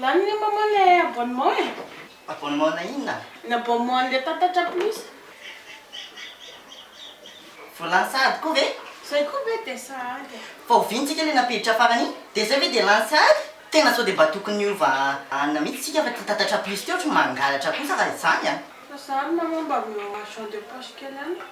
Lany ny maman le abonnement e. Abonnement ana inona? Ny abonnement anle tatatra plus. Voalany sahady koa ve? Zay koa ve dia sahady e. Fa oviana tsika le nampiditra farany iny? Dia zay ve dia lany sahady? Tena sao dia mba tokony hiova anona mihitsy tsika fa ty tatatra plus ty ohatry ny mangalatra kosa raha izany a. Fa zany maman mba omeo argent de poche kely any.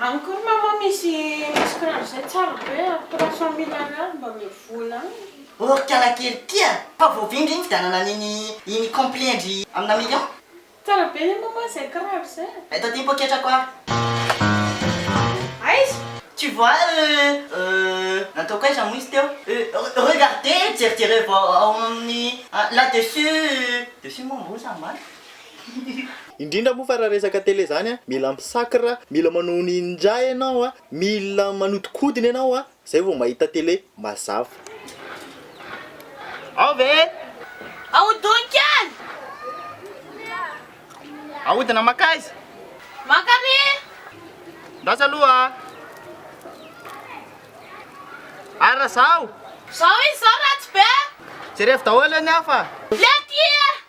Any koa ry maman misy misy kiraro zay tsara be a trois cent mille ariary mba omeo vola any. Ô ry kialakely ty a! Fa voavinga iny fividianana an'iny iny complet ndry amina million. Tsara be anie maman zay kiraro zay a! Eto aty ny poketrako a! Aiza? Tu vois euh euh nataoko aiza moa izy teo euh regardez jerijereo vao ao amin'ny là dessus, dessus moa ambony sa ambany? Indrindra moa fa raha resaka tele zany a, mila misacre, mila manao ninja ianao a, mila manodikodina ianao a, zay vao mahita tele mazava. Ao ve? Ahodin kely! Ahodina mankaiza? Mankary! Ndraso aloha a! Ary raha zaho? Zao izy zao ratsy be! Jerevo daholo anie aho fa. Lety!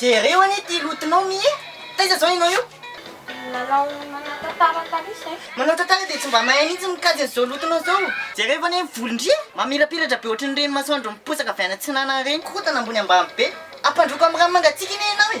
Jereo anie ity lotonao mi e! Taiza zao enao io? Nanao manantantara taloha zay. Manantantara dia tsy mba mahay mihitsy ny mikajy an'izao lotonao zao. Jereo anie ny volon-dria mamilapilatra be ohatran'ireny masoandro miposaka avy any atsinanana ireny. Korontana ambony ambany be. Ampandroako amin'ny rano mangatsiaka anie enao e!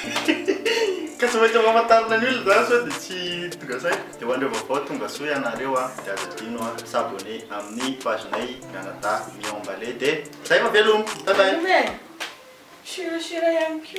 Ka tsy maintsy ampahafantarina ny olona zany sao dia tsy tonga saina. Dia ho an'ireo vaovao tongasoa ianareo a, dia aza adino a s'abonner amin'ny page nay mianadahy miambalé dia zay fa veloma! Bye bye! Veloma e! Sure sure ihany koa.